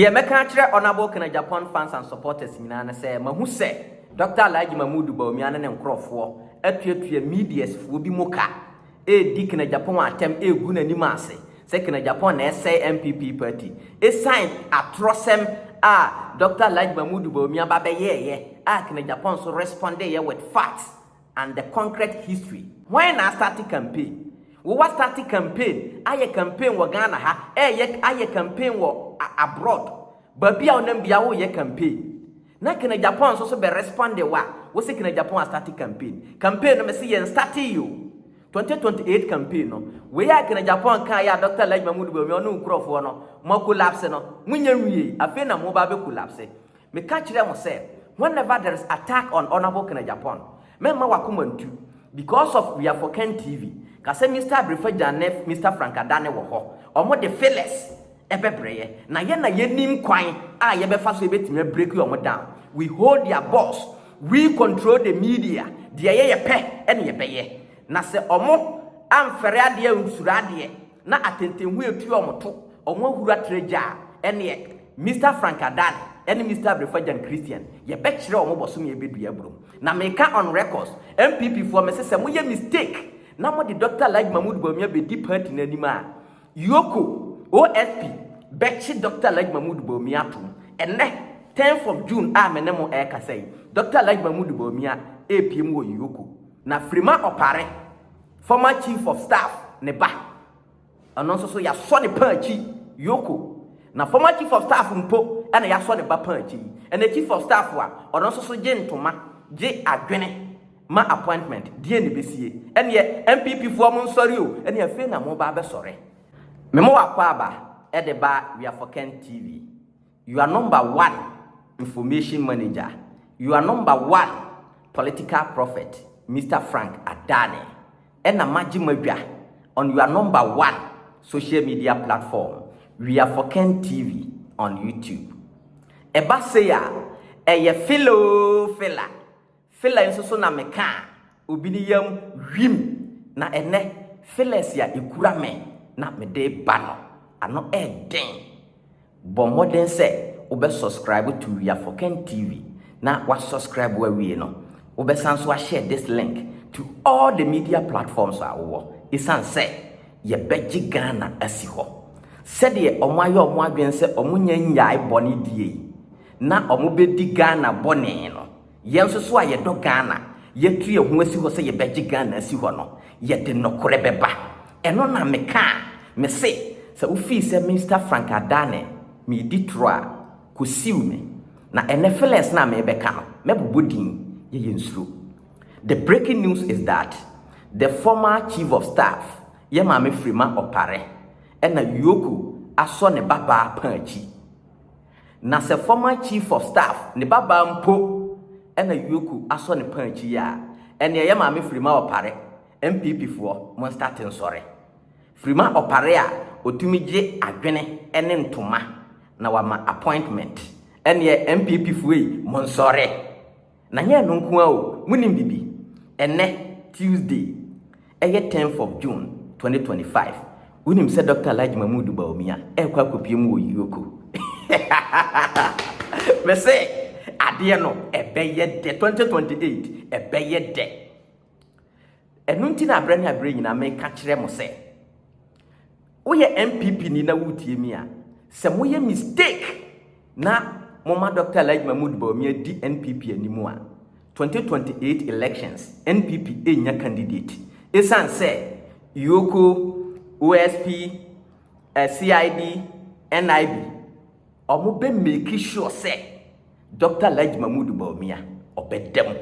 Deɛ mɛka akyerɛ Honourable Kena Agyapong fans and supporters nyinaa ne sɛ mahu sɛ Doctor Alhaji Mahmood Bawumia ne ne nkorɔfoɔ atuatua medias foɔ bi mu ka redi Kena Agyapong atɛm regu n'anim ase sɛ Kena Agyapong na ɛsɛe NPP party ɛsiane atorɔsɛm a Doctor Alhaji Mahmood Bawumia ba bɛyɛɛeɛ a Kena Agyapong nso respondeyɛ with facts and the concrete history. Hwan na astate campaign? Wo wa state campaign ayɛ campaign wɔ Ghana ha ɛyɛ ayɛ campaign wɔ abroad baabi a wo nam bia wo yɛ campaign na kena Japan nso so bɛ responde wo a wo se kena Japan astate campaign campaign no me se yɛn state yi o 2028 campaign no wei a kena Japan kaa yɛ a Dr. Alhaji Mahmoud Bawumia ɔne wo nkurɔfoɔ no mo collapse no mo nya nwiei afei na mo ba bɛ collapse Meka kyerɛɛ mo sɛ whenever there is attack on Honourable Ken Agyapong, mɛmma w'akoma ntu because of we are for Ken TV, ka sɛ Mister Abrefagya ne Mister Frank Adane wɔ hɔ, wɔn de fillers bɛbrɛ yɛ, na yɛn na yɛnim kwan a yɛbɛfa so yɛbɛtumi a break wɔn down, we hold their boss, we control the media, deɛ ɛyɛ yɛpɛ na yɛbɛyɛ, na sɛ wɔn amfɛre adeɛ ansuro adeɛ. Na atɛntɛnhu etua wɔn to, wɔn ahuru atra gya a, ɛnneɛ, Mister Frank Adan ne Mister Abrefagyan Christian, yɛbɛkyerɛ wɔn bɔsome a ɛbɛdua aburom. Na meka on records, NPP foɔ, mese sɛ moyɛ mistake na mode Doctor Alhaji Mahmood Bawumia bɛdi party no anim a, Yoko, OSP, bɛkye Doctor Alhaji Mahmood Bawumia atom. Ɛnnɛ, tenth of June a me ne mo ɛrekasa yi, Doctor Alhaji Mahmood Bawumia ɛrepie mu wɔ Yoko. Na Freema Opare. Former Chief of Staff ne ba, ɛno nso so yɛasɔ ne paa akyi, Yoko. Na Former Chief of Staff mpo na yɛasɔ ne ba paa akyi yi. Ɛnɛ Chief of Staff a ɔno nso so gye ntoma, gye adwene ma appointment, deɛn na ɛbɛsie? Ɛnneɛ NPP foɔ mo nsɔre o, ɛnneɛ afei na mo reba abɛsɔre. Me mo wɔ Akwaaba de ba Wiafoken TV. Your number one information manager, your number one political prophet, Mister Frank Adane, ɛna magye m'adwa on your number one social media platform, We are for Ken TV on YouTube. Ɛba sei a, ɛyɛ fela oo fela. Filler nso so na mekaa obi ne yam wim na ɛnnɛ fillers a ekura me na mede ba no ano yɛ den. Bɔ mmɔden sɛ wobɛ subscribe to Wiafoken TV na wa subscribe wawie no wobɛsan nso ahyɛ this link to all the media platforms a wowɔ esiane sɛ yɛbɛgye Ghana asi hɔ sɛdeɛ wɔn ayɛ wɔn adwene sɛ wɔn nyɛ nnyae bɔne die yi na wɔn bɛdi Ghana bɔne no Yɛn nso so a yɛdɔ Ghana, yɛatu yɛn ho asi hɔ sɛ yɛbɛgye Ghana asi hɔ no, yɛde nokorɛ bɛba. Ɛno na meka a mese sɛ wofii sɛ Minsta Frank Adane meedi torɔ a, kɔsiw me. Na ɛnnɛ Phyllis no a merebɛka no, mɛbobɔ din, yɛyɛ nsuro. The breaking news is that the former Chief of Staff, yɛn Maame Freema Opare, ɛna Yoko asɔ ne babaa paa akyi. Na sɛ former chief of staff ne babaa mpo na Yoku asɔ ne paa akyi yi a, ɛneɛ yɛ maame Frima Ɔpare, NPP foɔ, mo nstate nsɔre. Frima Ɔpare a ɔtumi gye adwene ne ntoma na wama appointment, ɛneɛ NPP foɔ yi mo nsɔre. Na nyɛ ɛno nko ara o, monim biribi? Ɛnnɛ, Tuesday, ɛyɛ tenth of June, twenty twenty five, wonim sɛ Dɔkta Alhaji Mahmood Bawumia ɛrekɔ akɔpue mu wɔ Yioko? Mese, adeɛ no ɛbɛyɛ dɛ, twenty twenty eight, ɛbɛyɛ dɛ. Ɛno nti na berɛ ne aberɛ nyinaa meka kyerɛ mo sɛ, woyɛ NPP ni na wotie mi a, sɛ moyɛ mistake na moma Dr. Alhaji Mahmoud Bawumia di NPP anim a, 2028 elections, NPP ɛnya candidate. Ɛsiane sɛ Yoko, OSP, eh, CID, NIB, Ɔmo bɛ make sure sɛ Doctor Alhaji Mahmood Bawumia ɔbɛda mu.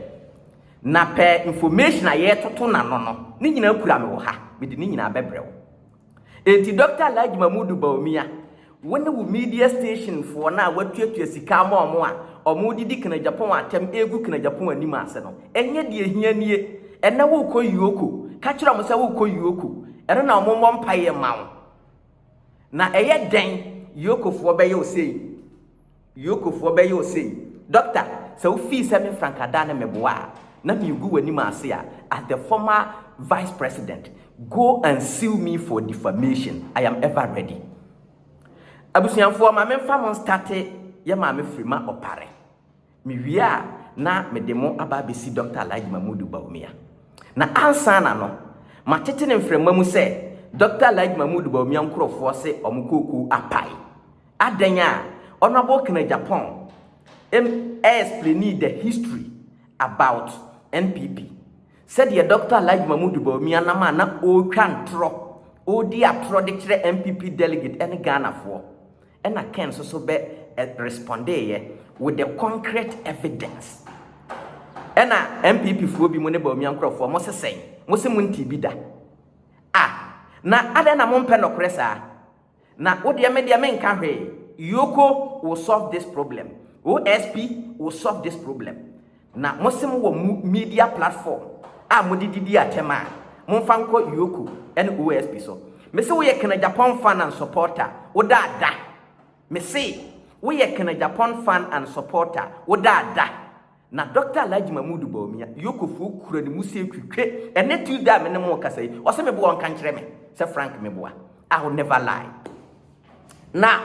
Na pɛ information a yɛɛtoto no ano no, ne nyinaa kura me wɔ ha, mede ne nyinaa bɛbrɛ wo. Enti Doctor Alhaji Mahmood Bawumia, wo ne wo media station foɔ no a watuatua sika ama ɔmo a ɔmo didi Kena Japan atɛm egu Kena Japan anim ase no, ɛnyɛ deɛ ehia nie. Ɛnnɛ wookɔ Yoko, ka kyerɛ ɔmo sɛ wookɔ Yoko, ɛno na ɔmo mmɔ mpaeɛ mma wo. Na ɛyɛ dɛn Yokofoɔ bɛyɛ wo sei? Yokofoɔ bɛyɛ wo sei? Doctor, sɛ wofii sɛ me mfrankadaa ne meboa a, na meregu w'anim ase a, as the former Vice President, go and sue me for defamation. I am ever ready. Abusuafoɔ, ma memfa mo nstate yɛ maame firi ma ɔpare. Mewie a, na mede mo aba abɛsi Dɔkta Alhaji Mahmudu Bawumia. Na ansa na no, matete no mframa mu sɛ Dɔkta Alhaji Mahmudu Bawumia nkurɔfoɔ se wɔn kookoo apae. Adɛn a, Honourable Ken Agyapong em ɛɛspleni the history about NPP. Sɛdeɛ Dɔkta Alhaji Mahmudu Bawumia nam a na ɔɔtwa ntorɔ, ɔɔdi atorɔ de kyerɛ NPP delegate ɛne Ghanafoɔ. Ɛna Ken nso so bɛ respondee yɛ with the concrete evidence. Ɛna NPP foɔ bi mo ne Bawumia nkorɔfoɔ mo se sɛn? Mo se mo ntii bi da? Ah! Na adɛn na mo mpɛ nɔkorɛ saa? Na wo deɛ me deɛ me nka hwee, Yoko will solve this problem, OSP will solve this problem. Na mo se mo wɔ mo media platform a mode didi atɛm a, momfa nkɔ Yoko ne OSP so. Me se woyɛ Kena Japon fan and supporter, wo da da. Me se woyɛ Kena Japon fan and supporter, wo da da. Na Doctor Alhaji Mahmood Bawumia, Yokofoɔ kura ne mu se twitwe. Ɛnɛ Tuesday a me ne mo rekasa yi, ɔse meboa ɔnka nkyerɛ me sɛ Frank meboa. I'll never lie. Na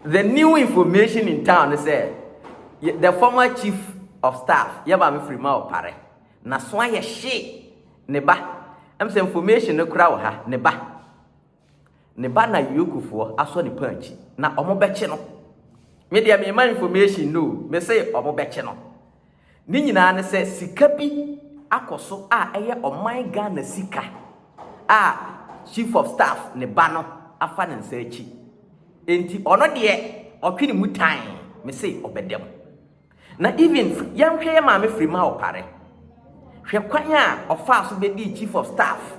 the new information in town ne sɛ yɛ- the former chief of staff yɛ maame firi ma ɔpare n'aso ayɛ hye ne ba ɛm sɛ information no kora wɔ ha ne ba ne ba na yokofoɔ asɔ ne paa akyi na ɔmo bɛkye no me deɛ mema information no o, me se ɔmo bɛkye no Ne nyinaa ne sɛ sika bi akɔ so a ɛyɛ ɔman Ghana sika a Chief of Staff ne ba no afa ne nsa akyi. Enti ɔno deɛ ɔtwe ne mu tan, me se ɔbɛda mu. Na even yɛnhwɛ yɛ maame Frima Opare, hwɛ kwan a ɔfaa so bɛdii Chief of Staff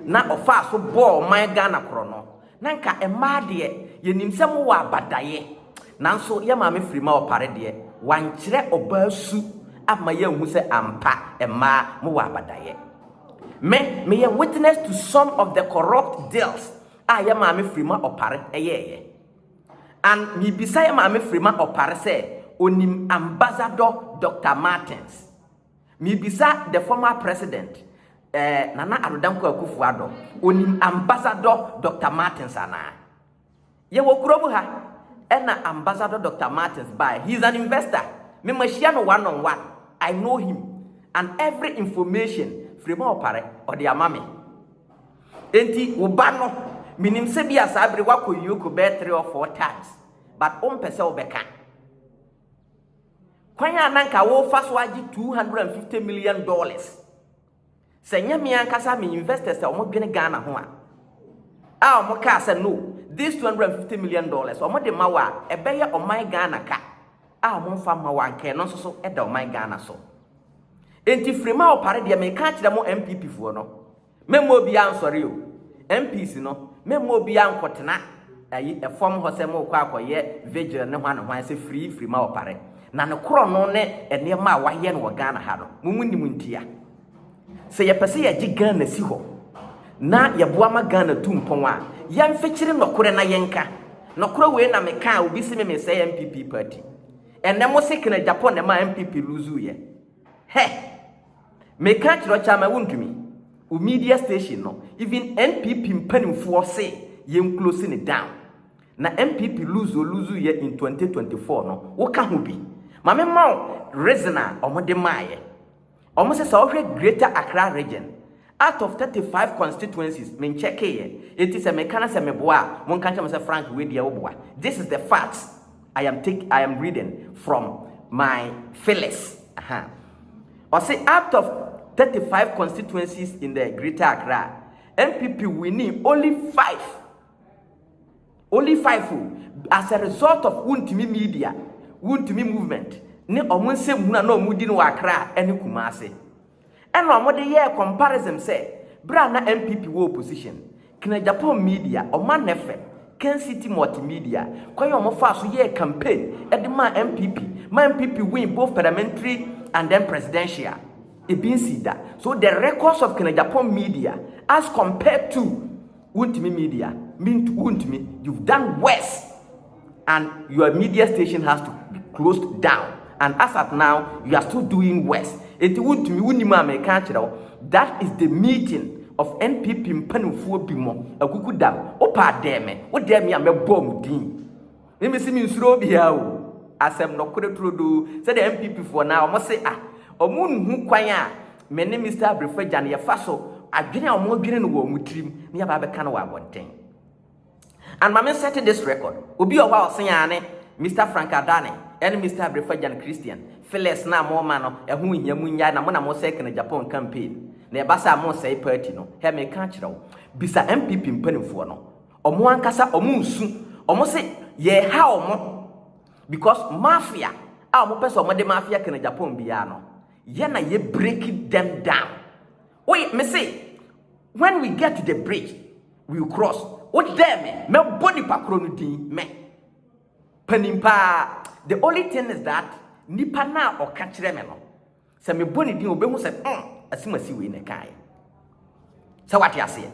na ɔfaa so bɔɔ ɔman Ghana korɔno. Na nka mmaa deɛ yɛnim sɛ mowɔ abadaeɛ nanso yɛ maame Frima Opare deɛ wankyerɛ ɔbaa su amma yɛanhu sɛ ampa mmaa mowɔ abadaeɛ. Me meyɛ witness to some of the corrupt deals a yɛ maame Frima Opare yɛɛyɛ and mebisa yɛ maame Frima Opare sɛ ɔnim Ambassador Doctor Martins. Mebisa the former president eh, Nana Addo Dankwa Akufo Addo, onim Ambassador Dr. Martins anaa? Yɛwɔ kurom ha, ɛna Ambassador Dr. Martins bae, he is an investor, me mahyia no one on one, I know him, and every information firi ma ɔpare, ɔde ama me. Enti wo ba no, menim sɛ bi a saa bere wakɔ Yoko bɛyɛ three or four times, but wompɛ sɛ wobɛka. Kwan a na anka wofa so agye 250 million dollars. Sɛ nyɛ me ankasa me investors a wɔn dwene Ghana ho a, a wɔn kaa sɛ no, this 250 million dollars wɔn de ma wo a, ɛbɛyɛ ɔman Ghana ka a wɔn nfa mma wo anka ɛno nso so da ɔman Ghana so. Enti firi ma wo pare deɛ meka akyerɛ mo MPP foɔ no. Memma obiara nsɔre o. MPs no, memma obiara nkɔtena ayi fam hɔ sɛ morekɔ akɔyɛ vigil ne hwan ne hwan sɛ firii firi ma ɔpare. Na ne korɔno ne nneɛma a wɔayɛ no wɔ Ghana ha no, mo mu nnim ntia. Sɛ yɛpɛ sɛ yɛgye Ghana si hɔ na yɛboa ma Ghana tu mpɔn a, yɛmfekyere nɔkorɛ na yɛnka. Nɔkorɛ wei na meka a obi se me mesɛe NPP party. Ɛnnɛ mose Kenneth Agyapong na ɛmaa NPP luuzuuiɛ. Hɛ! Me ka kyerɛ ɔkyɛ ama wontumi. Wo media station no even NPP mpanimfoɔ se yɛn close no down. Na NPP lose o lose yɛ in 2024 no wo ka ho bi. Ma me ma wo reason a wɔn de maayɛ. Wɔn se sɛ wo hwɛ greater Accra region out of 35 constituencies me nkyɛkeeyɛ enti sɛ me ka na sɛ me boa a mo nka nkyerɛ me sɛ Frank wei deɛ wo boa. This is the facts. I am take I am reading from my Phyllis. Uh-huh. Ɔse out of 35 constituencies in the Greater Accra, NPP winning only five. Only five o. As a result of wuntumi media, wuntumi movement, ne ɔmo nsɛm hunu a na ɔmo di no wɔ Accra ne Kumasi. Ɛna ɔmo de yɛɛ comparison sɛ bere a na NPP wɔ opposition, Kina Japan Media, Ɔman FM, Ken City Multimedia, kwan a ɔmo faa so yɛɛ campaign de maa NPP ma NPP win both parliamentary and then presidential. Ebi nsii da. So the records of Kina Japan Media as compared to Wontumi Media, mint, wontumi, you've done worse. and your media station has to be closed down and as at now you are still doing worse enti wontumi wonim a meka akyerɛ wo that is the meeting of npp mpanimfoɔ bi mo akuku dam wopa adɛɛ me wodɛɛ me a mɛbɔɔ mo din ne mesi me nsuro obiara o asɛm nɔkorɛ turodoo sɛdeɛ npp foɔ na wɔn se a wɔn nhu kwan a me ne mr abrefo agya no yɛfa so adwene a wɔn adwene no wɔ wɔn tirim ne yɛba abɛka no wɔ abɔnten And ma me set this record, obi wɔ hɔ a ɔsen aa ne Mister Frank Adane ɛne Mister Abrefagyan Christian Phillis no a mo ma no ɛho nhia mo nyae na mo na mo sɛe Kenneth Agyapong campaign na ɛba saa a mo sɛe party no hɛ me ka akyerɛ wo bisa NPP mpanimfoɔ no ɔmo ankasa ɔmo nsu ɔmo se yɛ ha ɔmo because mafia a ɔmo pɛ sɛ ɔmo de mafia Kenneth Agyapong biara no yɛ na yɛ break them down. Woyɛ me se when we get to the bridge we will cross. Wo dɛn me mɛbɔ nipa koro no din mɛ panin paa the only thing is that nipa na ɔka kyerɛ me no sɛ mebɔ ne din obehu sɛ mm asimasi wei na ɛkaeɛ sɛ wate aseɛ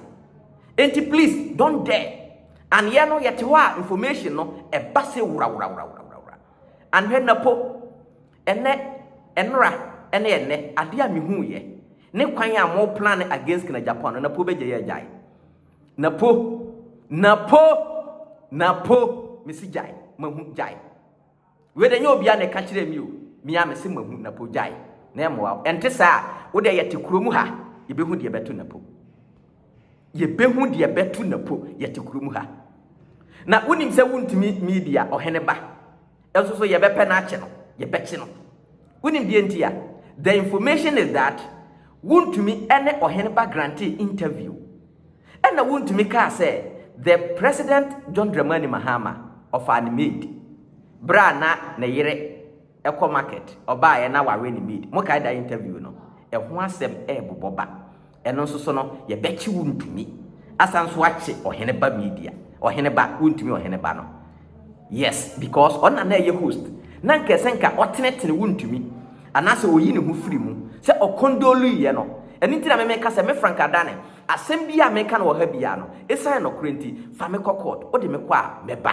enti please don't dare and yɛ no yɛte hɔ a information no ɛba se wura wura wura wura wura wura and hwɛ napo Ɛnnɛ, ɛnora, ɛne ɛnnɛ, adeɛ a mehuuiɛ, ne kwan a mo plane against Kina Japan no, na po bɛgyae agyae. Na po, na po, na po, mesi gyae, mahu, gyae. Wei de, ɛnyɛ obiara na ɛka kyerɛɛ me o, me ara mese mahu, na po, gyae. Na ɛmmoa wo, ɛnte saa a, wo deɛ yɛte kuro mu ha, yɛbɛhu deɛ ɛbɛto na po. Yɛbɛhu deɛ ɛbɛto na po, yɛte kuro mu ha. Na wonim sɛ wontumi media ɔhene ba. nso so yɛbɛpɛ no akyɛ no, yɛbɛkye no. Wonim deɛ nti a? The information is that wontumi ne ɔhene ba grantee interview. Ɛna wontumi kaa sɛ the president John Dramani Mahama ɔfaa ne maid berɛ a na ne yere ɛkɔ market ɔbaeɛ na wawe ne maid. Mokae da interview no? Ɛho asɛm ɛrebobɔ ba. Ɛno nso so no, yɛbɛkye wo ntumi asan nso akye ɔhene ba media ɔhene ba wontumi ɔhene ba no yes because ɔna na ɛyɛ host na nka ɛsɛ nka ɔtenetene wontumi anaasɛ ɔyi ne ho firi mu sɛ ɔkɔndoluyɛ no ɛno nti na memeka sɛ me frank adane asɛm bi a meka no wɔ ha biara no ɛsiane nɔkorɛ nti fa me kɔ court wode me kɔ a mɛba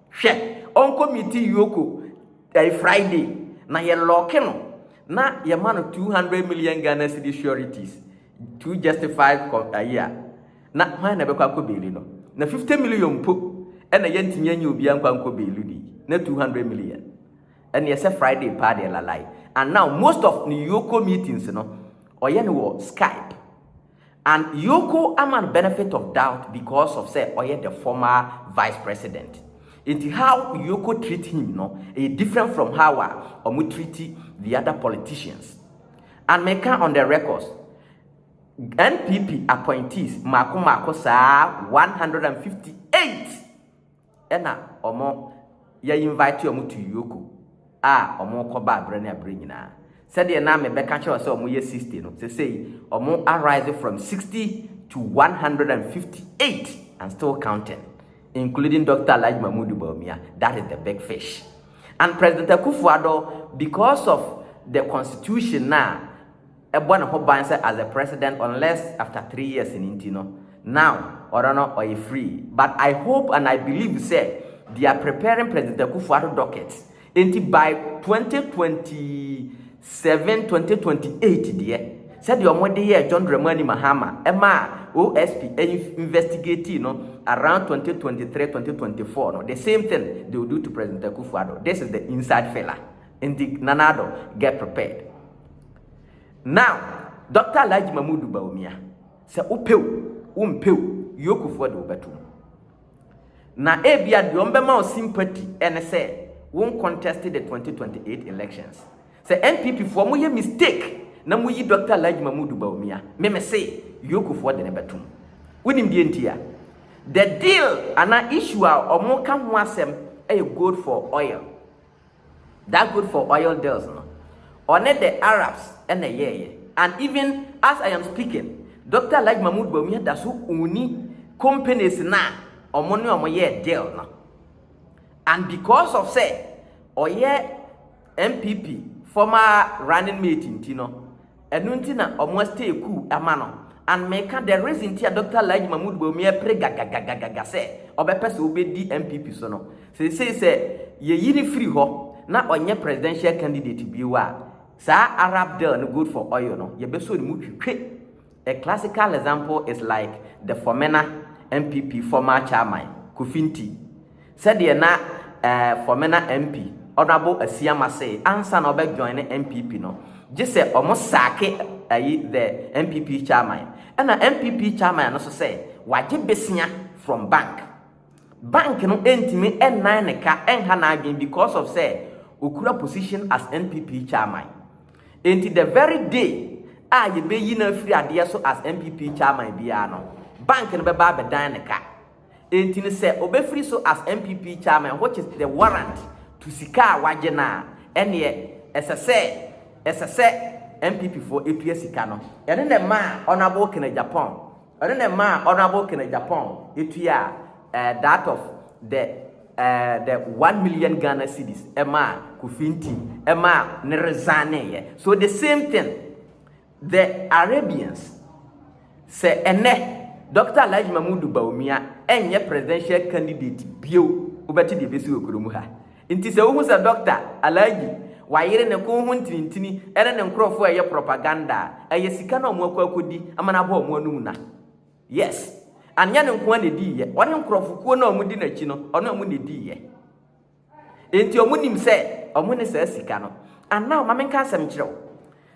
Hwɛ, ɔnkɔ meeting Yoko ɛɛ Friday na yɛ lɔɔke no na yɛ ma no two hundred million Ghana cedis sureties to justify kɔ ayi a, na hwan na ɛbɛkɔ akɔ beeli no? Na fifty million mpo ɛna yɛ ntumi anyi obiara nkɔ ankɔ beeli ni, na two hundred million. Ɛna ɛsɛ Friday paa deɛ lalai. And now most of ne Yoko meetings no ɔyɛ no wɔ Skype. And Yoko ama no benefit of doubt because of sɛ ɔyɛ the former vice president nti how Yoko treat him no ɛyɛ different from how a ɔmo treat the other politicians. And meka on the records NPP appointees mmaako mmaako saa 158. Ɛna ɔmo yɛ invite ɔmo to Yoko a ɔmo kɔ baa berɛ ne aberɛ nyinaa. Sɛdeɛ na me bɛka kyerɛ wo sɛ ɔmo yɛ 60 no, sesei ɔmo arise from 60 to 158 and still counting including Doctor Alhaji Mahmood Bawumia, that is the big fish. And President Akufo-Addo because of the constitution na bɔ ne ho ban sɛ as a president unless after three years no nti no now ɔno no ɔyɛ free but I hope and I believe sɛ they are preparing President Akufo Addo docket nti by 2027 2028 deɛ sɛdeɛ ɔmo de yɛ John Dramani Mahama ɛma a OSP investigate no around 2023 2024 no the same thing they will do to President Akufo Addo this is the inside filler nti Nana Addo get prepared. Now, Doctor Alhaji Mahmudu Bawumia, sɛ wopɛ o, wompɛ o, Yokofoɔ de wobɛto mu. Na ebia deɛ ɔmbɛma wo sympathy ɛne sɛ wo contest the 2028 elections. Sɛ NPP foɔ mo yɛ mistake na mo yi Doctor Alhaji Mahmudu Bawumia, me me se Yokofoɔ de ne bɛto mu. Wonim deɛ nti a? The deal anaa issue a ɔmo ka ho asɛm ɛyɛ gold for oil. That good for oil deals no ɔne the Arabs na ɛyɛɛyɛ and even as I am speaking Doctor Alhaji Mahmood Bawumia da so ɔnni companies no a wɔn ne wɔn yɛɛ deal no and because of sɛ ɔyɛ NPP former running mate nti no Ɛno nti na ɔmo a stay cool ama no and meka the reason nti a Doctor Alhaji Mahmood Bawumia ɛpere gagagagagaga sɛ ɔbɛpɛ sɛ ɔbɛdi NPP so no seesei sɛ yɛyi no firi hɔ na ɔnyɛ presidential candidate bio a saa Arab deal no good for oil no yɛbɛsɔ ne mu twitwe A classical example is like the formena NPP former chairman Kofi Nti Sɛdeɛ na eh Fɔmena MP Honourable Asiamah see ansa na ɔbɛ joine NPP no, gye sɛ ɔmo saake ayi the NPP Chairman. Ɛna NPP Chairman no so sɛ wagye besia from bank. Bank no ɛntumi ɛnnan ne ka ɛnha n'adwene because of sɛ ɔkura position as NPP Chairman. Ɛnti the very day a yɛbɛyi no afiri adeɛ so as NPP Chairman biara no, bank no bɛba abɛdan ne ka. Enti no sɛ ɔbɛfiri so as NPP chairman which is the warrant to sika a wagye no a, ɛnneɛ ɛsɛ sɛ ɛsɛ sɛ NPP foɔ ɛtua sika no. Ɛno na ɛmaa Honourable Ken Agyapong ɛno na ɛmaa Honourable Ken Agyapong ɛtuaa eh, that of the eh, the one million Ghana cedis ɛmaa Kofi Ntim ɛmaa ne resigneeɛ. So the same thing. The Arabians, Sɛ ɛnnɛ Dɔkta Alhaji Mahmudu Bawumia ɛnyɛ presidential candidate bio, wobɛte deɛ ɛbɛsi wɔ kuro mu ha. Nti sɛ wohu sɛ Dɔkta Alhaji wayere ne ko ho ntinintini ɛne ne nkorɔfoɔ ɛyɛ propaganda a, ɛyɛ sika na wɔn akɔ akɔdi ama no abɔ wɔn anum na. Yes. Anyɛ no nkoa na ɛdiiyɛ. Ɔne nkorɔfokuo no a wɔdi n'akyi no, ɔne wɔn na ɛdiiyɛ. Enti ɔmo nim sɛ ɔmo ne saa sika no. And now ma me nka asɛm nkyerɛ wo.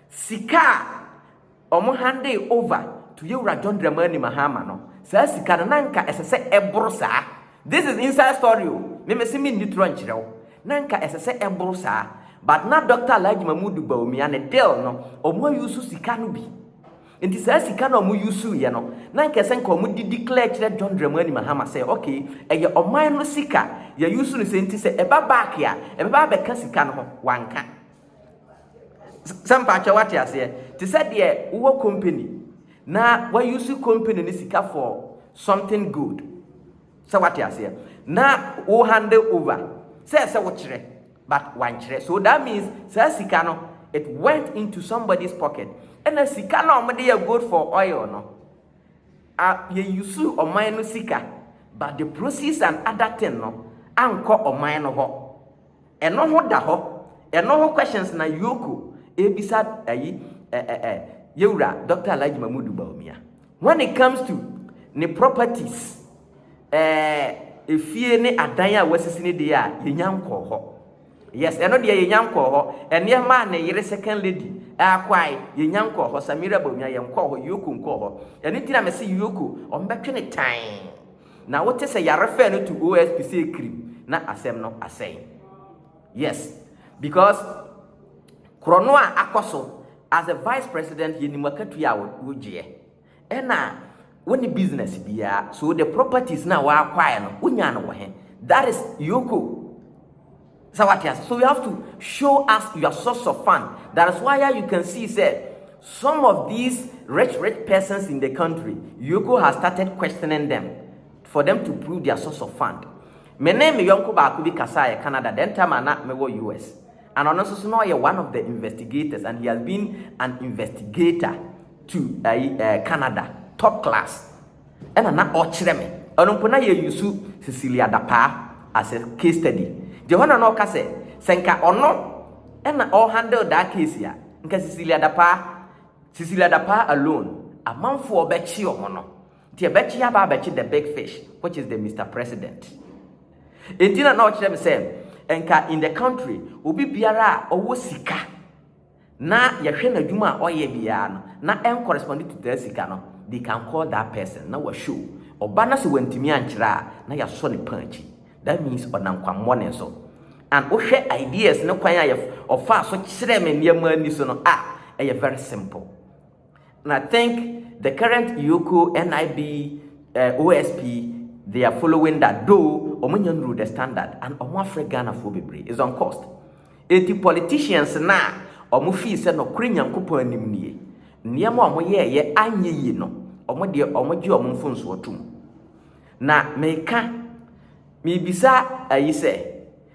Sika a ɔmo handee over to Yewura John Dramani Mahama no, saa sika no na nka ɛsɛ sɛ ɛboro saa. This is inside story o, me mese me nni torɔ nkyerɛ wo. Na nka ɛsɛ sɛ ɛboro saa. But na Doctor Alhaji Mahmood Bawumia ne deal no, ɔmo a use sika no bi. Nti saa sika no a ɔmo use yɛ no na nka ɛsɛ nka ɔmo de declare kyerɛ John Dramani Mahama sɛ okay ɛyɛ ɔman no sika yɛ use no sei nti sɛ ɛba back a ɛbɛba abɛka sika no ho wanka sɛ mpakyɛw wate aseɛ te sɛ deɛ wowɔ company na wa use company no sika for something good sɛ wate aseɛ na wo handle over sɛ ɛsɛ wo kyerɛ But wankyerɛ so that means saa sika no it went into somebody's pocket ɛna sika na wɔn de yɛ gold for oil no a yɛ use ɔman no sika but the proceeds and other thing no ankɔ ɔman no hɔ ɛno ho da hɔ ɛno ho questions na yoko ebisa ayi ɛɛ ɛɛ yɛwura Dr. Alhaji Mahmood Bawumia When it comes to ne properties, eh, efie ne adan a wasisi ne deɛ a, yɛnya nkɔɔ hɔ. Yes, ɛno deɛ yɛnya nkɔɔ hɔ. Nneɛma a ne yere second lady akwae, yɛnya nkɔɔ hɔ. Samira Bawumia, yɛnkɔɔ hɔ, Yoko nkɔɔ hɔ. Ɛno nti na mese Yoko, ɔmbɛtwe ne tann. Na wote sɛ yɛarefɛɛ no to OSP sɛ kirim, na asɛm no asɛe. Yes, because korɔno a akɔ so as a vice president yɛ nim akatua a wogyeɛ ɛna wo ne business biara so the properties na wɔakwaɛ no wonya no wɔ he that is yoko sɛ wate ase so you have to show us your source of fund that is why you can see sɛ some of these rich rich persons in the country yoko has started questioning them for them to prove their source of fund Me ne me yɔnko baako bi kasaeɛ Canada then time a na mewɔ US. And ɔno nso so na ɔyɛ one of the investigators and he has been an investigator to ayi eh, eh, Canada top class. Ɛna na ɔkyerɛ me. Ɔno mpo na yɛ yusu Cecilia Dapaa as a case study. Deɛ hɔ na na ɔka sɛ sɛ nka ɔno ɛna ɔhandle that case a nka Cecilia Dapaa Cecilia Dapaa alone amanfoɔ bɛkye ɔmo no. Nti ɛbɛkye aba abɛkye the big fish which is the Mister President. Nti na na ɔkyerɛ me sɛ nka in the country obi biara a ɔwɔ sika na yɛhwɛ n'adwuma a ɔyɛ biara no na ɛncorrespond to that sika no they can call that person na wa show ɔba na sɛ wantumi ankyerɛ a na yɛasɔ ne pan akyi that means ɔnam kwammɔne so and wohwɛ ideas ne kwan a ɔfaa so kyerɛ me nneɛma ani so no a ɛyɛ very simple. And I think the current Yoko NIB uh, eh, OSP, they are following that, though Omanya Nuru the standard and Omwafre Ghana for Bebre is on cost. Eti politicians na Omo fee se no kure nyankopon anim nie. Nneɛma Omo ye ye anye yi no, Omo de Omo gye Omo mfonso atum. Na meka mebisa ayi sɛ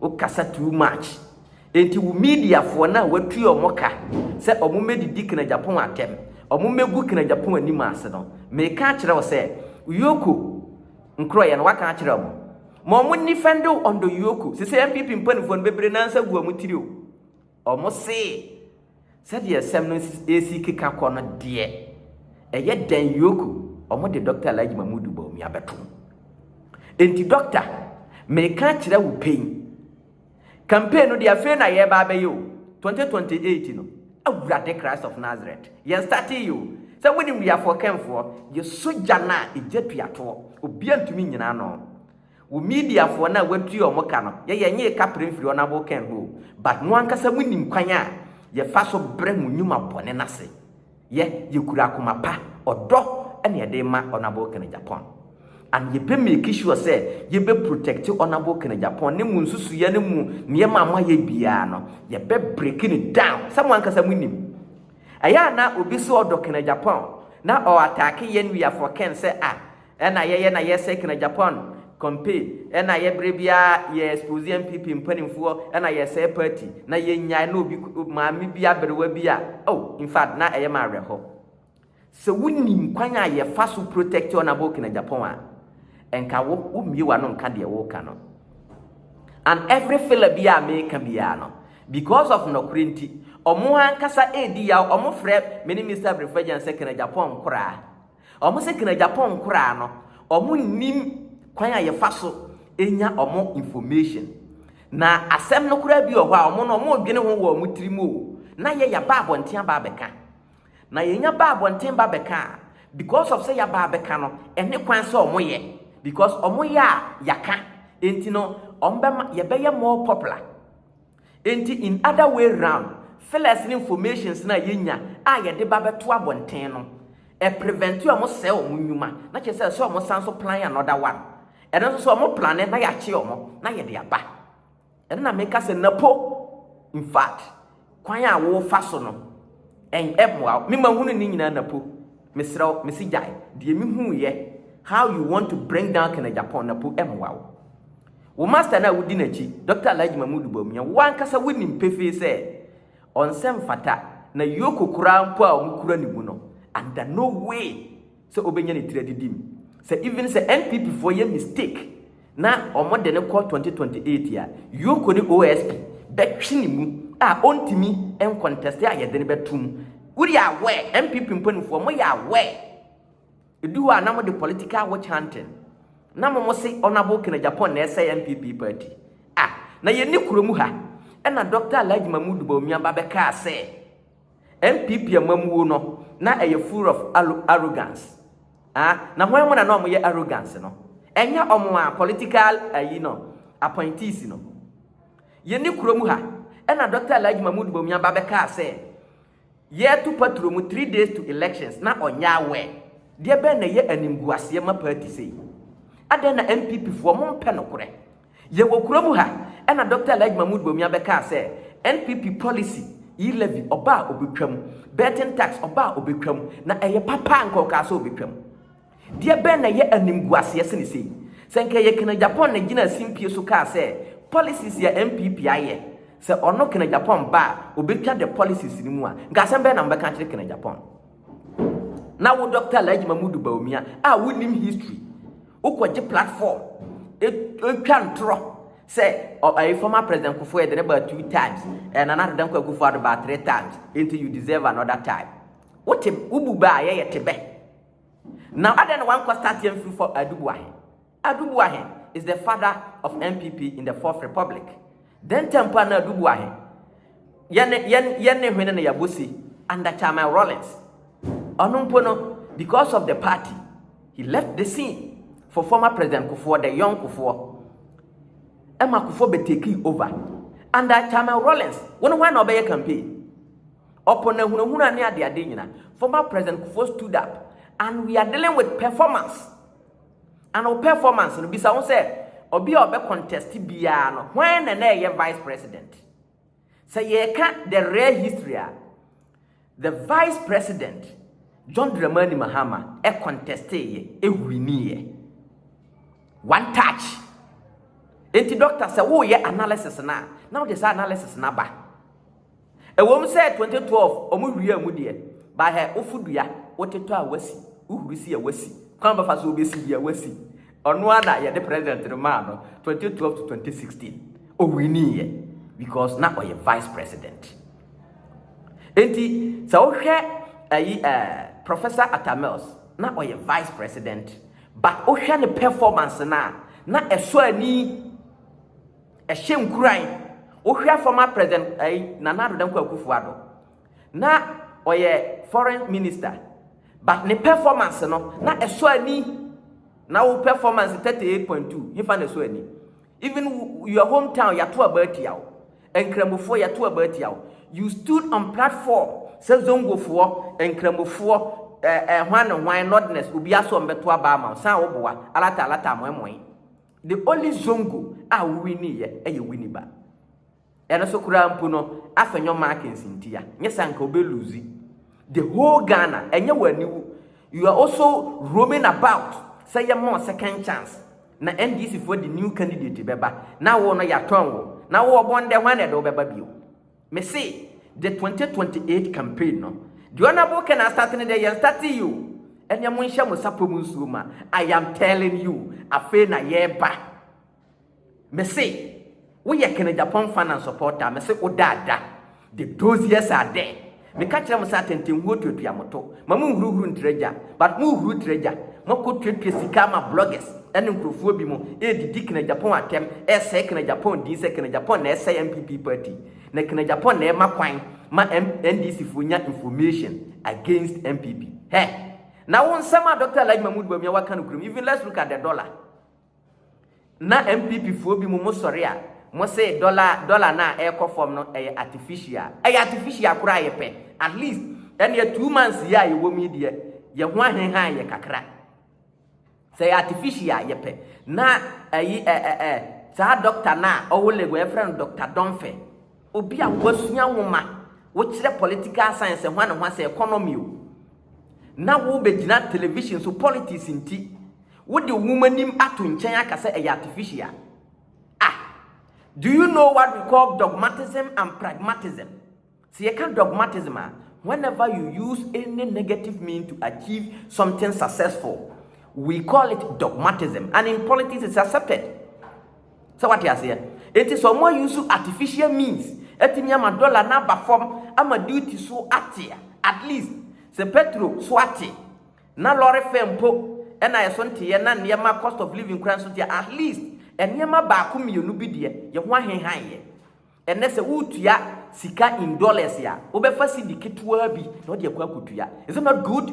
Wokasa too much. Enti wo mediafoɔ no a wɔatue wɔn ka sɛ wɔn mmɛdidi Kena Japan atɛm, wɔn mmɛgu Kena Japan anim ase no, meka akyerɛ wo sɛ Yoko nkorɔeɛ no waka akyerɛ wɔn. Ma wɔn nni fɛnde wo ɔndɔ Yoko. Sesei NPP mpanifoɔ no bɛbire nansa agu wɔn tiri o. Wɔn see. Sɛdeɛ asɛm no resi keka kɔ no deɛ, ɛyɛ dɛn Yoko, wɔde Dɔkta Alhaji Mahmudu Bawumia abɛto mu. Enti Dɔkta, mereka akyerɛ wo pɛ yi, campaign no deɛ afei na yɛreba abɛyɛ o, 2028 no, Awurade Christ of Nazareth, yɛn startee yɛ o, sɛ monim Wiafoɔ Kɛnfoɔ, yɛ sogya no a egya tuatoɔ, obiara ntumi nnyina ano. Wo media foɔ no a watua ɔmo ka no yɛ yɛ nyee ka prɛ mfiri honourable Ken ho o but mo ankasa mo nim kwan a yɛ fa so brɛ mo nnwuma bɔne no ase yɛ yɛ kura akoma pa ɔdɔ ɛna yɛ de ma honourable Ken Agyapong and yɛ bɛ make sure sɛ yɛ bɛ protect honourable Ken Agyapong ne mo nsusuiɛ ne mo nneɛma a mo ayɛ biaa no yɛ bɛ break no down sɛ mo ankasa mo nim ɛyɛ a na obi se ɔdɔ Ken Agyapong na ɔ attack yɛn wia for Ken sɛ ah Ɛna yɛyɛ na yɛ sɛkina Japan compay ɛna yɛ bere biara yɛ expose NPP mpaninfoɔ ɛna yɛ sɛɛ party na yɛ nyae na obi maame bi aberewa bi a oh in fact na ɛyɛ ma awerɛhɔ sɛ wo nim kwan a yɛ fa so protect honourable kina Japan a ɛnka wo wo mmie wano nka deɛ wo ka no and every filler bi a meka biara no because of nɔkorɛ nti ɔmo ankasa ɛredi yaw ɔmo frɛ me ne Mr. Abrefagyan sɛ kina Japan nkoraa Wɔn sɛ kena Japan nkoraa no wɔn nnim kwan a yɛfa so nya wɔn information. Na asɛm no koraa bi wɔ hɔ a wɔn no wɔn dwene ho wɔ wɔn tiri mu o, na yɛ yɛ ba abɔnten aba abɛka. Na yɛ nya ba abɔnten ba bɛka a, because of sɛ yɛ aba abɛka no, ɛne kwan sɛ wɔn yɛ. Because wɔn yɛ a yɛaka, enti no wɔn bɛma yɛ bɛyɛ more popular. Enti in other way round, fillers ne informations no a yɛnya a yɛde ba bɛto abɔnten no, ɛ prevent wɔn sɛe wɔn nnwuma, na kyerɛ sɛ ɛsɛ wɔn san nso plan another one. Ɛno nso sɛ wɔn plane na yɛakye wɔn na yɛde aba. Ɛno na meka sɛ napo in fact kwan a wofa so no ɛn ɛmmoa wo. Me mahunu ne nyinaa napo. Mesrɛ wo, mese gyae deɛ mehuuiɛ how you want to bring down Kenneth Agyapong napo ɛmmoa wo. Wo master no a wodi n'akyi, Dɔkta Alhaji Mahmood Bawumia, wo ankasa wunim pefee sɛ ɔnsɛ mfata na yoko koraa mpo a wɔkura ne mu no, under no way sɛ obenya ne tiri adidi mu. Sɛ even sɛ NPP foɔ yɛ mistake na wɔde no kɔ 2028 a, yoko ne OSP bɛtwe ne mu a ɔntumi nconteste a yɛde no bɛto mu. Woyɛ aware, NPP mpanimfoɔ, moyɛ aware? Edu hɔ a na mo de political witch hunting na mo mo se Honourable Ken Agyapong na ɛsɛe NPP party. Ah! Na yɛn ni kuro mu ha ɛna Doctor Alhaji Mahmood Bawumia ba bɛkaa sɛ NPP amamuo no na ɛyɛ full of arrogance. Ah! Na hwan mu na na wɔn yɛ arrogance no? Ɛnyɛ wɔn a political ayi no appointees no. Yɛn ni kuro mu ha ɛna Doctor Alhaji Mahmood Bawumia ba bɛkaa sɛ Yɛɛto patro mu three days to elections na ɔnyɛ aware, deɛ bɛn na ɛyɛ animguaseɛ ma party sei? Adɛn na NPP foɔ mo mpɛ nokorɛ? Yɛwɔ kuro mu ha ɛna Doctor Alhaji Mahmood Bawumia bɛkaa sɛ NPP policy yi levy ɔba a ɔbɛtwam, betting tax ɔba a ɔbɛtwam, na ɛyɛ papa a nka ɔkaa sɛ ɔbɛtwam. Deɛ bɛn na ɛyɛ animguaseɛ sene sei? Sɛ nka ɛyɛ Ken Agyapong na gyinaa simpie so kaa sɛ policies yi a NPP ayɛ, sɛ ɔno Ken Agyapong ba a, ɔbɛtwa the policies no mu a, nka asɛm bɛn na mobɛka akyerɛ Ken Agyapong? Na wo Dɔkta Alhaji Mahmudu Bawumia a wonim history, wokɔgye platform, ɛtwa ntorɔ sɛ ɛyɛ former president Kufuor yɛde ne baa two times, eh, Nana Addo Dankwa Akufo-Addo baa three times, nti you deserve another time. Wote, wobu bɛ a yɛyɛ te bɛ. Na adɛn na wankɔ start amfiri fɔ Adu Buahe? Adu Buahe is the father of NPP in the fourth republic. Then time pa na Adu Buahe yɛne yɛne yɛne hwene na yɛabɔ si under Chairman Rawlings. Ɔno mpo no because of the party he left the scene for former President Kufuor the young Kufuor. Ɛma Kufuor bɛ take over under Chairman Rawlings. Wɔn hwan na ɔbɛyɛ campaign? Upon ahunahuna ne adeade nyina, former President Kufuor stood up and we are dealing with performance. And o performance no bisa ho sɛ, obi a ɔbɛ contest biara no, hwan na na ɛyɛ Vice President? Sɛ yɛka the rare history a, the Vice President John Dramani Mahama ɛ contesteeɛ, ɛ winiiɛ. One touch. Enti doctor sɛ woyɛ analysis no a, na wode saa analysis no aba. Ɛwom sɛ 2012 ɔmo wiaa mu deɛ, but hɛ wofo dua, wotetɔ a wasi, wohuru si a wasi, kwan a wobɛfa so wobɛsi bi a wasi. Ɔno ara na yɛde president no maa no 2012 to 2016. Ɔwiniiɛ because na ɔyɛ vice president. Enti sɛ wohwɛ ayi ɛɛ Professor Atta Mills na ɔyɛ vice president but wohwɛ ne performance no a na ɛsɔ ani. Ɛhyɛ nkuran. Wohwɛ a former President ɛyi Nana Addo Dankwa Akufo Addo na ɔyɛ foreign minister but ne performance no na ɛsɔ ani na wo performance 38.2 hefa na ɛsɔ ani even your hometown yɛato aba atia wo nkramofoɔ yɛato aba atia wo you stood on platform sɛ zongofoɔ nkramofoɔ ɛɛ eh, eh, hwan ne hwan nordness obi asɔ mbɛto aba ama wo san wo boa alata alata amoɛmoe The only zongo a wo winnieɛ ɛyɛ Winnie ba. Ɛno so koraa mpo no afɛ nyɔ markings ntia. Nyɛ saa nka obe lose the whole Ghana. Ɛnyɛ wo aniwu. You are also roaming about sɛ yɛ ma wo second chance. Na NDC foɔ de new candidate bɛba. Na wo no yatɔn wo. Na wo ɔbɔn dɛ hwan na ɛde wo bɛba bio. Me se the twenty twenty eight campaign no deɛ honourable ken astate no deɛ yɛn state yi o ɛneɛ mo nhyɛ mo sapɔ mu nsuo ma I am telling you afei na yɛreba me se woyɛ ken japan fan and supporter me se wo daada the those years are there me ka kyerɛ mo sɛ atɛntɛnhuo tuatua mo to. Ma mo nhuruhuru ntra gya but mo huru tra gya mo akɔ tuatua sika ama bloggers ɛne nkorɔfoɔ bi mo ɛɛdidi knajapon atɛm ɛɛsɛɛ knajapon din sɛ knajapon na ɛɛsɛɛ NPP party na knajapon na ɛɛma kwan ma NDC foɔ nya information against NPP hɛ na wo nsɛm a Doctor Alhaji Mahmood Bawumia waka nokorɛ mu even let's look at the dollar Na NPP foɔ bi mo mo sɔre a mo se dollar dollar no a ɛrekɔ fam no ɛyɛ artificial. Ɛyɛ artificial koraa yɛ pɛ. At least ɛneɛ two months yi a yɛwɔ mu yi deɛ yɛ ho ahenhan yɛ kakra. Sɛ ɛyɛ artificial a yɛ pɛ. Na ɛyi ɛ ɛ ɛ saa doctor no a ɔwɔ Lagos yɛfrɛ no Doctor Dɔnfɛ. Obi a wasua nwoma, wokyerɛ political science ɛho a ne ho asɛ economy o. Na wobɛgyina television so politics nti. Wode wo nwoma nim ato nkyɛn aka sɛ ɛyɛ artificial? Ah! Do you know what we call dogmatism and pragmatism? Sɛ yɛka dogmatism a, whenever you use any negative mean to achieve something successful, we call it dogmatism and in politics it's accepted. Sɛ wate aseɛ? Enti sɛ wɔn use artificial means atumi ama dollar no aba fam ama duty so ate at least sɛ petro so ate Na lɔre fare mpo na ɛso nteɛ na nneɛma cost of living koraa nso nteɛ. At least nneɛma baako mmienu bi deɛ yɛn ho ahenhan yɛ. Ɛnnɛ sɛ woretua sika in dollars a, wobɛfa cedi ketewaa bi na wode akɔ akɔtua. Is it not good?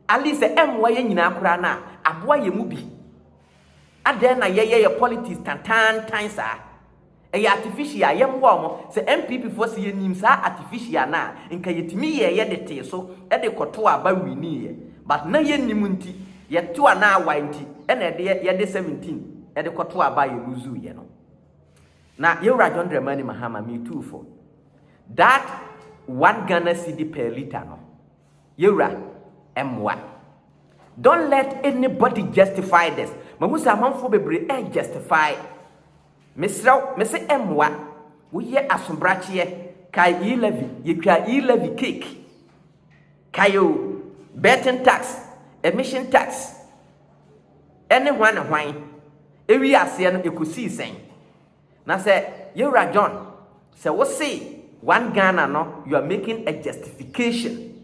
At least sɛ ɛmmoa yɛn nyinaa koraa no a, aboa yɛn mu bi. Adɛn na yɛyɛ yɛn politics tantaantan saa? Ɛyɛ artificial, yɛ mmoa wɔn. Sɛ NPP foɔ se yɛ nim saa artificial no a, nka yɛ tumi yɛɛyɛ de tee so de kɔ to aba winiiɛ. But na yɛ nnim nti, yɛ to a na awae nti na ɛdeɛ yɛ de 17 de kɔ to aba a yɛ loosuu yɛ no. Na Yɛwura John Dramani Mahama, me tuu fo. That one Ghana cedi per litre no, Yɛwura, ɛmmoa. Don't let anybody justify this. Mahu sɛ amanfoɔ bebree ɛɛ justify. Mesrɛ wo, mese mmoa. Woyɛ asobrakyeɛ. Kae E levy, yɛtwaa E levy cake. Kae o, betting tax, emission tax, ɛne hwan ne hwan. Ɛwii aseɛ no, ɛkɔsii sɛn? Na sɛ Yɛwura John, sɛ wose one Ghana no, you are making a justification,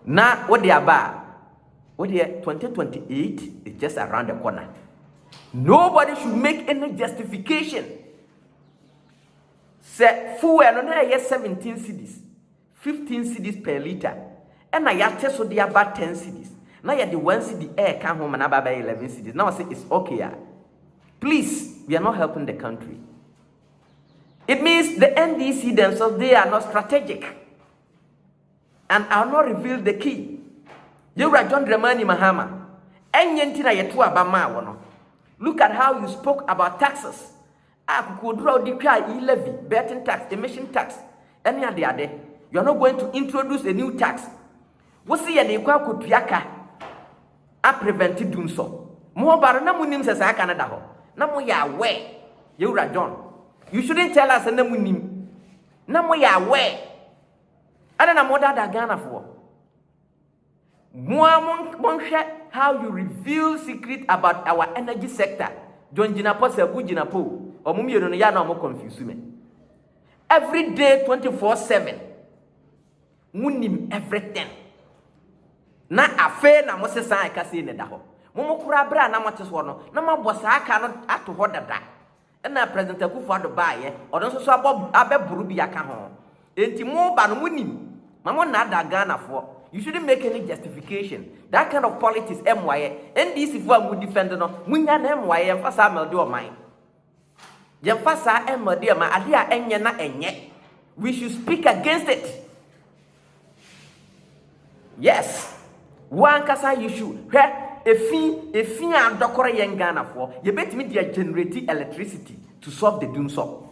na wode aba a, wodeɛ 2028 is just around the corner. Nobody should make any justification sɛ fuel no na ɛyɛ 17 cedis, 15 cedis per litre, ɛna yɛate so de aba 10 cedis, na yɛde 1 cedi ɛreka ho ma no aba abɛyɛ 11 cedis, na wɔsɛ it's okay a, please, we are not helping the country. It means the NDC themselves, they are not strategic. And I'll not reveal the key Yɛwura John Dramani Mahama, ɛnyɛ nti na yɛtoo aba maa wo no. Look at how you spoke about taxes a kokoɔduro a wode twaa e-levy, betting tax, emission tax ne adeade. You are not going to introduce a new tax. Wo se yɛde rekɔ akɔtua ka a prevent dumsɔ. Mo ɔba no na monim sɛ saa ka no da hɔ. Na moyɛ aware. Yɛwura John, you shouldn't tell us sɛ na monim. Na moyɛ aware. Ɛna na modada Ghanafoɔ. Moa monhwɛ how you reveal secret about our energy sector. John Jinapɔ Saku Jinapɔ o. Ɔmo mmienu no yɛ a na ɔmo confuse me. Every day 24/7. Monim everything. Na afei na mo se saa ɛka sei na ɛda hɔ. Mo mo koraa berɛ a na mote soɔ no na moabɔ saa ka no ato hɔ dada. Ɛna President Akufo Addo baeɛ, ɔno nso so abɔ abɛboro bi aka ho. Enti mo ba no mo nim, ma mo nnaadaa Ghanafoɔ. You shouldn't make any justification. That kind of politics ɛmmoaeɛ. NDC foɔ a mo defend no, mo nya na ɛmmoaeɛ, yɛnfa saa mmɛlde ɔman. Yɛnfa saa ɛmmɛlde ɔman, adeɛ a ɛnyɛ na ɛnyɛ. We should speak against it. Yes! Wo ankasa you should hwɛ efi efi a adɔkɔrɔ yɛn Ghanafoɔ yɛbɛtumi de agenerate electricity to solve the dunsɔ.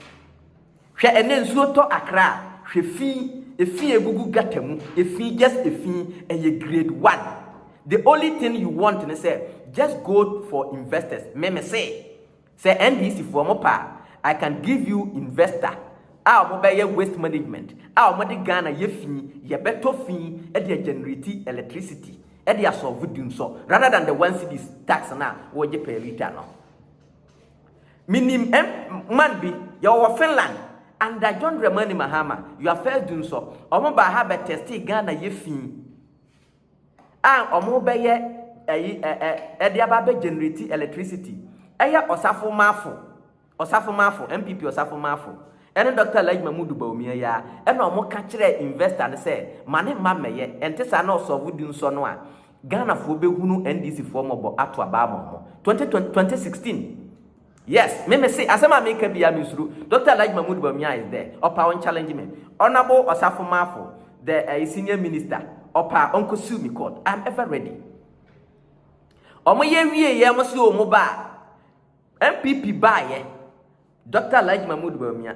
Hwɛ ɛnɛ nsuo tɔ Accra a hwɛ fi efi a egugu gutter mu efi just efi ɛyɛ grade one the only thing you want ne sɛ just go for investors me me se Sɛ NDC foɔ mo pɛ a, I can give you investor a ɔmo bɛyɛ waste management a ɔmo de Ghana yɛ fi, yɛ bɛ tɔ fi de a generate electricity de a solve di nsɔ rather than the one cedis tax no a wo gye per litre no. Me nim M man bi, yɛ wɔ wɔ Finland under John Dramani Mahama, your first di nsɔ, ɔmo baa ha bɛ testee Ghana yɛ fi, a wɔbɛyɛ ɛyi ɛ ɛ ɛde aba abɛ generate electricity ɛyɛ ɔsafo maafo ɔsafo maafo npp ɔsafo maafo ɛne dɔkta alhaji mahmudu bawumia yi a ɛna wɔn ka kyerɛ investor no sɛ ma ne mma mmɛyɛ ɛnte saa na ɔsɔfo di nsɔ no a ghanafoɔ bɛhunu ndc foɔ mmɔbɔ ato abaa ma wɔn 2020 2016 Yes me mese asɛm a meka bia me nsuro Doctor Alhaji Mahmood Bawumia is there ɔpa ɔn challenge me Honourable Ɔsafo Marfo the ɛyi senior minister ɔpa ɔnkɔ sue me court I am ever ready Ɔmo yɛ wie yɛ ɔmo se ɔmo ba a NPP baayɛ Doctor Alhaji Mahmood Bawumia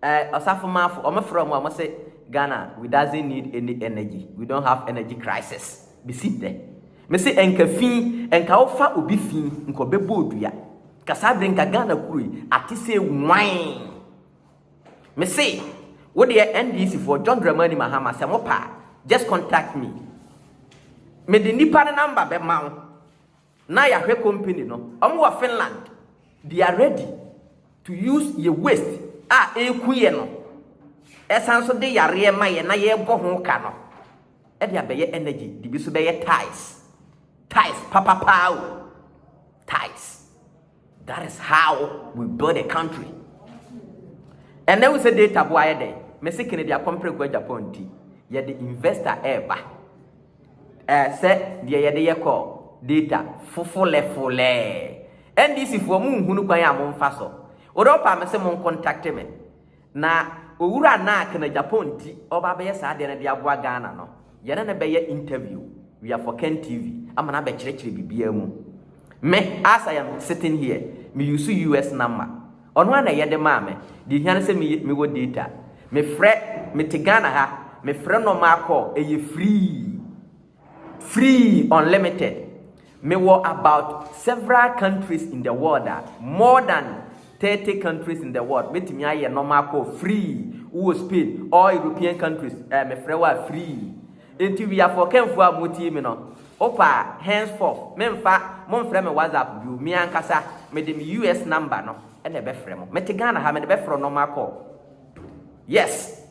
Eh ɔsafo maafo ɔmo frɛ ɔmo a ɔmo se Ghana we doesn't need any energy we don't have energy crisis besi nnɛ mese ɛnka fi ɛnka wo fa obi fi nka ɔbɛbɔ odua nka saa bere nka Ghana kuro yi ate sɛ nwan mese wo deɛ NDC foɔ John Dramani Mahama sɛ mo pa just contact me mede nipa no number bɛma wo Na yahwɛ company no ɔmo wɔ Finland they are ready to use yɛ waste a eku yɛ no ɛsan so de yareɛ ma yɛ na yɛbɔ ho ka no ɛde abɛyɛ energy de bi so bɛyɛ tiles tiles papapaa o tiles. That is how we build a country. And then we say data boy ayɛ dɛn? Mese Kennedy akɔmprɛ kɔ Japan nti yɛde investor ɛɛba. Ɛɛ sɛ deɛ yɛde yɛ kɔ data fofolɛfolɛɛ. NDC foɔ mo nhunu kwan a mo nfa so. Wodɔ pa me se mo nkontakte me. Na owura no a kena Japan nti ɔreba abɛyɛ saa adeɛ no de aboa Ghana no, yɛne no bɛyɛ interview via Forken TV ama no abɛkyerɛkyerɛ biribiara mu. Me, as I am sitting here, me use US number. Ɔno ara na ɛyɛ de maa me. Deɛ ɛhia ne sɛ me yɛ, mewɔ data. Mefrɛ, mete Ghana ha, mefrɛ normal call, ɛyɛ free. Free unlimited mewɔ about several countries in the world a more than thirty countries in the world mɛtumi ayɛ nɔma akɔ free wowɔ Spain all European countries eh, mefrɛ wo a free enti wiafoɔ kɛnfoɔ a motie me no wopa a henceforth memfa momfrɛ me whatsapp bio me ankasa mede me US number no ɛna ɛbɛfrɛ mo mete Ghana ha mede bɛfrɛ nɔma akɔ yes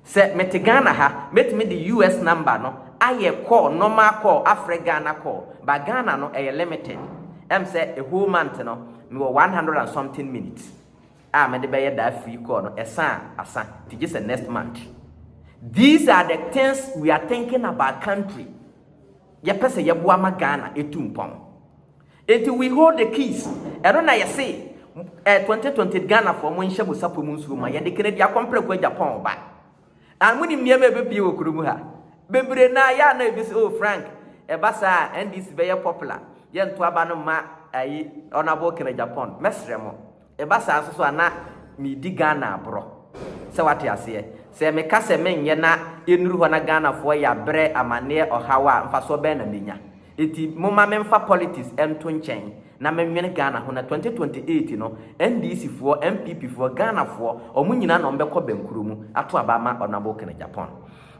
Sɛ mete Ghana ha mɛtumi de US number no ayɛ call normal call afrɛ Ghana call but Ghana no ɛyɛ limited ɛm sɛ a whole month no mewɔ one hundred and something minutes a mede bɛyɛ that free call no ɛsa a asa nti gye sɛ next month these are the things we are thinking about country yɛpɛ sɛ yɛboa ma Ghana ɛtu mpɔn. Enti we hold the keys ɛno na yɛse eh, 2020 Ghanafoɔ monhyɛ mo sapɔ mu nsuo ma yɛde Kennedy akɔ mprɛko agya pɔn ba and monim nneɛma a ɛbɛpie wɔ kuro mu ha bebree na yɛ a na ebi sɛ oh Frank ɛba saa a NDC bɛyɛ popular yɛnto aba no mma ayi Honourable Kennedy Agyapong mɛsrɛ mo Ɛba saa nso so a, na meredi Ghana aborɔ. Sɛ woate aseɛ? Sɛ meka sɛ menyɛ na ɛnnuru hɔ na Ghanafoɔ ya, berɛ, amanneɛ, ɔhaw a, mfasoɔ bɛn na mɛnya? Enti momma memfa politics nto nkyɛn na menwene Ghana ho na 2028 no, NDCfoɔ, NPPfoɔ, Ghanafoɔ, wɔn nyinaa na wɔbɛkɔ bɛnkorɔ mu ato aba ama Honourable Ken Agyapong.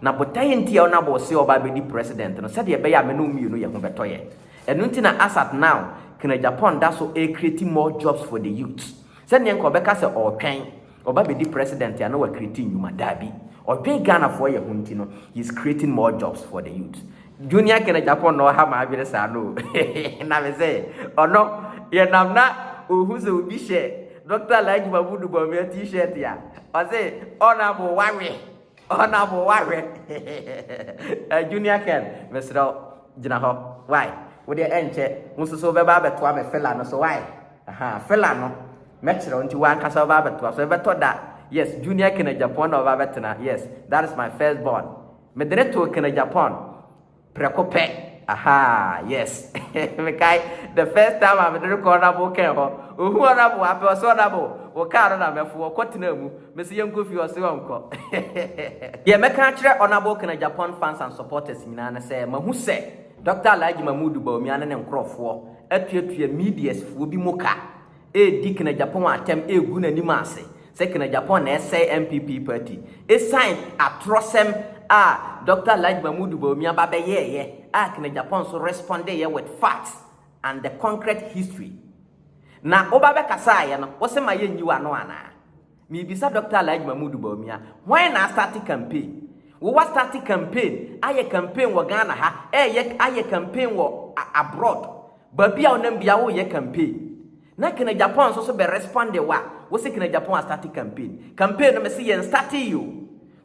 Na botaeɛ nti a Honourable se ɔba abɛdi President no, sɛdeɛ ɛbɛyɛ a me ne wo mmienu yɛ ho bɛtɔ yɛn. Ɛno nti na as at now Kena Japan da so ɛrekreti more jobs for the youths. Sɛ neɛ nka ɔbɛka sɛ ɔretwɛn ɔba bɛdi president a na wakreti nnwuma, daabi. Ɔdwen Ghanafoɔ yɛ ho nti no he is creating more jobs for the youths. Junior Kena Japan na ɔha m'adwene saa no o na me sɛ ɔno yɛnam na ɔhu sɛ obi hyɛ Doctor Alhaji Mahmood Bawumia t-shirt a ɔse honourable wawe. Honourable wahwɛ eh, Junior Ken mesrɛ wo gyina hɔ why wodeɛ ɛnkyɛ wo nso so wobɛba abɛtoa me fela no so why aha fela no mɛkyerɛ wo nti wankasa wobɛba abɛtoa so ɛbɛtɔ da yes Junior Ken Agyapong na ɔba abɛtena yes that is my first born mede ne too Ken Agyapong Prɛko pɛ ahaa yes mekae the first time a mede rekɔ honourable kɛn hɔ ohu honourable apɛ ɔse honourable wo car no na mɛfo ɔkɔ tenaa mu mese yɛnkɔ fie ɔse ɔnkɔ Deɛ mɛka akyerɛ honourable kɛn Agyapong fans and supporters nyinaa ne sɛ mahu sɛ Doctor Alhaji Mahmood Bawumia ne ne nkorɔfoɔ atuatua medias foɔ bi mu ka redi Ken Agyapong atɛm regu n'anim ase sɛ Ken Agyapong na ɛsɛe NPP party esiane atorɔsɛm a Doctor Alhaji Mahmood Bawumia ba bɛyɛeɛ a Ken Agyapong nso respondeyɛ with facts and the concrete history. Na woba bɛkasaeɛ no, wose ma yɛnyi w'ano anaa? Mebisa Dɔkta Alhaji Mahmood Bawumia, why na asate campaign? Wo wa starte campaign, ayɛ campaign wɔ Ghana ha, ɛɛyɛ ayɛ campaign wɔ abroad, baabi a wo nam bia wo yɛ campaign. Na Kena Japan nso so bɛ responde wo a, wo se Kena Japan astarte campaign. Campaign no me se yɛn startee o.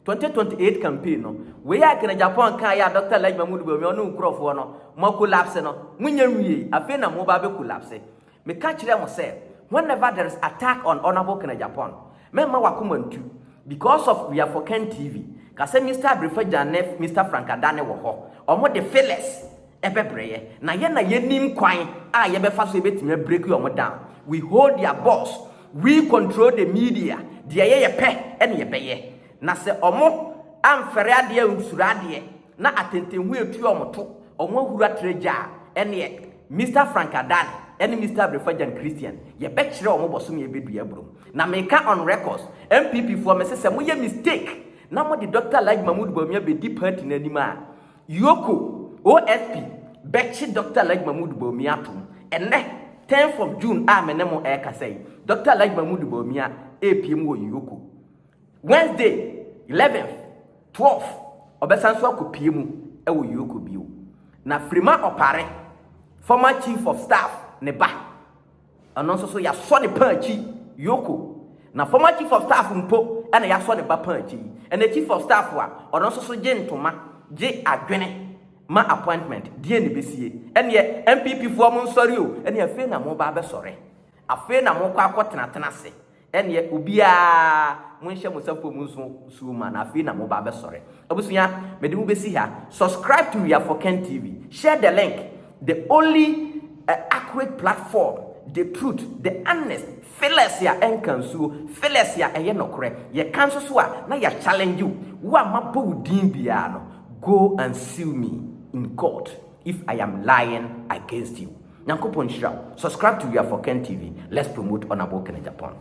2028 campaign no, wei a Kena Japan kaa yɛ a Dɔkta Alhaji Mahmood Bawumia ɔne wo nkurɔfoɔ no, mo collapse no, mo nya nwiei, afei na mo ba abɛ collapse. Meka kyerɛɛ mo sɛ whenever there is attack on Honourable Ken Agyapong, mɛmma w'akoma ntu because of we are for Ken TV. Ka sɛ Mister Abrefagya ne Mister Frank Adane wɔ hɔ, wɔn de Phyllis bɛbrɛ yɛ, na yɛn na yɛnim kwan a yɛbɛfa so yɛbɛtumi a break wɔn down. We hold their boss, we control the media, deɛ yɛyɛ pɛ na yɛbɛyɛ. Na sɛ wɔn amfɛre adeɛ, ansuro adeɛ, Na atɛntɛnhu a etua wɔn to, wɔn ahura tra gya a, ɛnneɛ, Mister Frank Adan ne Mister Abrefagyan Christian, yɛbɛkyerɛ wɔn bɔsome a ɛbɛdua aburom. Na meka on records, NPP foɔ, mese sɛ moyɛ mistake na mode Doctor Alhaji Mahmood Bawumia bɛdi party no anim a, Yoko, OSP, bɛkye Doctor Alhaji Mahmood Bawumia atom. Ɛnnɛ, tenth of June a me ne mo ɛrekasa yi, Doctor Alhaji Mahmood Bawumia repiem wɔ Yoko. Wednesday, eleventh, twelve, ɔbɛsan so akɔpue mu wɔ Yoko bio. Na Frima Opare, former chief of staff, ne ba, ɛno nso so yɛasɔ ne paa akyi Yoko. Na former chief of staff mpo na yɛasɔ ne ba paa akyi yi. Ɛnna chief of staff a ɔno nso so gye ntoma, gye adwene ma appointment, deɛ na ɛbɛsie? Ɛnneɛ NPP foɔ mo nsɔre o, ɛnneɛ afei na moba abɛsɔre? Afei na mokɔ akɔtenatena ase? Ɛnneɛ obiara, monhyɛ mo nsa fam nso nsuo ma no, afei na moba abɛsɔre. Abusua, mede mo bɛsi ha. Subscribe to We Are For Ken TV. Share the link. The only uh, accurate platform. The truth, the honest, fearless a ɛnka nsuo, fearless a ɛyɛ nɔkorɛ. Yɛka nso so a, na yɛ challenge wo. Wo a mabɔ wo din biara no, go and sue me in court if I am lying against you. Nyankopɔn nhyira wo. Subscribe to We Are For Ken TV. Let's promote Honorable Kenneth Agyapong.